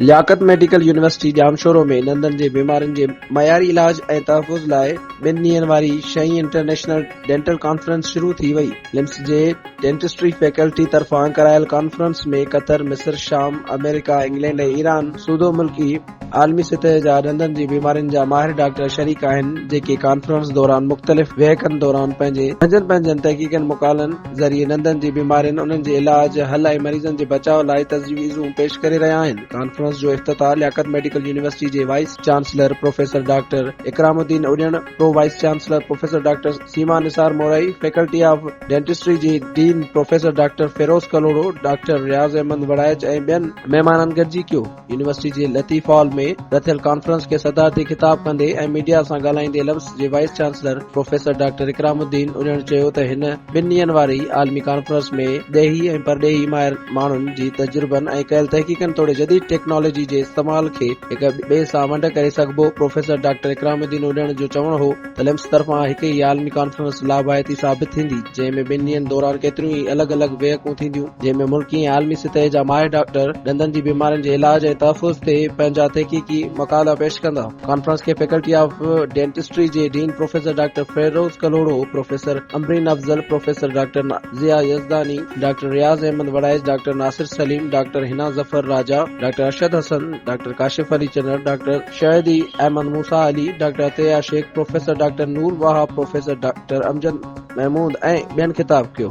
لياقت medical university Jamshoro ۾ ڏندن جي بيمارين جي معياري علاج ۽ تحفظ لاء ٻن ڏينهن واري شينهن انٽرنيشنل ڊينٽل ڪانفرنس شروع ٿي وئي، لمس جي ڊينٽسٽري فيڪلٽي طرفان ڪرايل ڪانفرنس ۾ قطر، مصر، شام، آمريڪا، انگلينڊ ۽ ايران سوڌو ملڪي عالمي سطح جا ڏندن جي بيمارين جا ماهر ڊاڪٽر شريڪ آهن جيڪي ڪانفرنس دوران مختلف ويهڪن دوران پنهنجي پنهنجن پنهنجن تحقيقن مقالن ذريعي ڏندن جي بيمارين انهن جي علاج حل ۽ مريضن جي بچاء لاء تجويزون پيش ڪري رهيا آهن ڪانفرنس جو افتتاح لياقت ميڊيڪل يونيورسٽي جي vice chancellor professor doctor Ikram Uddin Ujan pro vice chancellor professor doctor Seema Nisar Morai faculty of dentistry جي dean professor doctor Feroz Kalhoro doctor Riaz Ahmed Warraich ۽ ٻين مهمانن گڏجي ڪيو يونيورسٽي جي لطيف هال ۾ رٿيل ڪانفرنس کي صدارتي خطاب ڪندي ۽ ميڊيا سان ڳالهائيندي لفظ جي vice chancellor professor doctor Ikram Uddin Ujan چيو ته هن ٻن ڏينهن واري عالمي ڪانفرنس ۾ ڏيهي ۽ پرڏيهي ماهر ماڻهن جي تجربن ۽ ڪيل تحقيقن توڙي جديد ٽيڪنالاجي جي استعمال کي هڪ ٻئي سان ونڊ ڪري سگهبو پروفيسر ڊاڪٽر اڪرام الدين اڙيڻ جو چوڻ هو اليمس طرفان هڪ ئي عالمي ڪانفرنس لاڀائتي ثابت ٿيندي، جنهن ۾ ٻن ڏينهن دوران ڪيتريون ئي الڳ الڳ بيهڪون ٿينديون، جنهن ۾ ملڪي ۽ عالمي سطح جا ماهر ڊاڪٽر ڏندن جي بيمارين جي علاج ۽ تحفظ تي پنهنجا تحقيقي مقالا پيش ڪندا. ڪانفرنس کي فيڪلٽي آف ڊينٽسٽري جي dean professor doctor Feroz Kalhoro, professor Umreen Afzal, professor doctor Zia Yazdani, doctor Riaz Ahmed Warraich, doctor Nasir Saleem, doctor Hina Zafar Raja, doctor Arshad Hassan, doctor Kashif Ali Channar, doctor. Shahdi Ahmed Musa Ali, doctor Atiya Sheikh, professor doctor Noor Wahab, professor doctor Amjad Mehmood ۽ ٻين خطاب ڪيو.